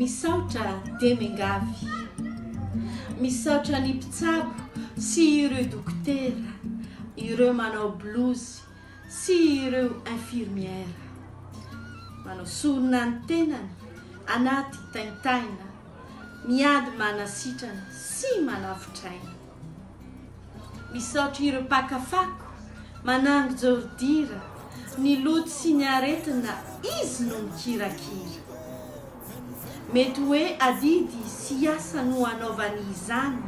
Misaotra Demengavy. Misaotra ny mpitsabo sy ireo dokotera, ireo manao blouse sy ireo infirmière. Manao sorona ny tenany anaty taintaina, miady manasitrana sy manavotr'aina. Misaotra ireo mpaka fako, manango jordira, ny loto sy ny aretina izy no mikirakira. Mety hoe adidy sy asa no anaovany izany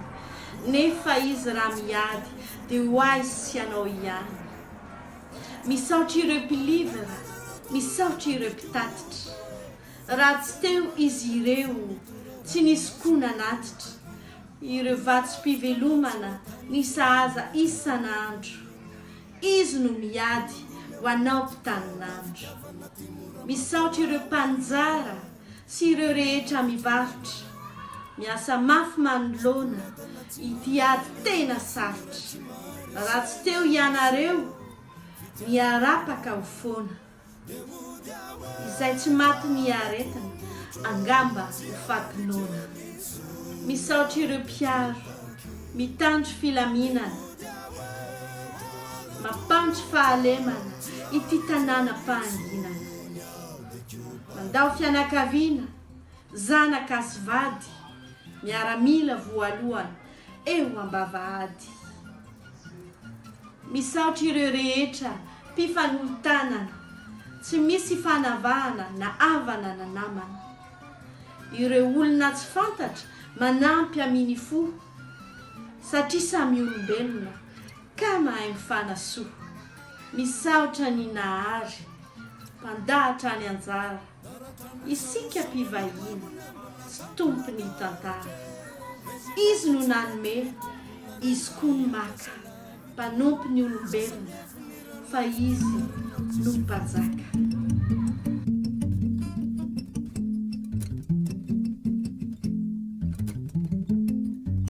nefa izy raha miady dia ho ahy sy anao ihany. Misaotra ireo mpilivra, misaotra ireo mpitatitra. Raha tsy teo izy ireo tsy nisy koa nanatitra, Ireo vatsim-pivelomana ny sahaza isan'andro. Izy no miady ho anao mpitanin'andro. Misaotra ireo mpaninjara sy ireo rehetra mivarotra. Miasa mafy manoloana ity ady tena sarotra. Raha tsy teo hianareo, miarapaka ho foana. Izay tsy maty ny aretina, angamba ho faty noana. Misaotra ireo mpiaro, mitandro filaminana, mampandry fahalemana ity tanàna am-pahanginana. Mandao fianakaviana, zanaka sy vady, miaramila voalohany eo ambavahady. Misaotra ireo rehetra mpifanolo-tanana tsy misy fanavahana na havana na namana. Ireo olona tsy fantatra manampy aminy fo satria samy olombelona ka mahay mifanasoa. Misaotra ny Nahary mpandahatra ny anjara. Isika mpivahiny sy tompon'ny tantara. Izy no nanome, Izy koa no maka, mpanompo ny olombelona, fa Izy no Mpanjaka.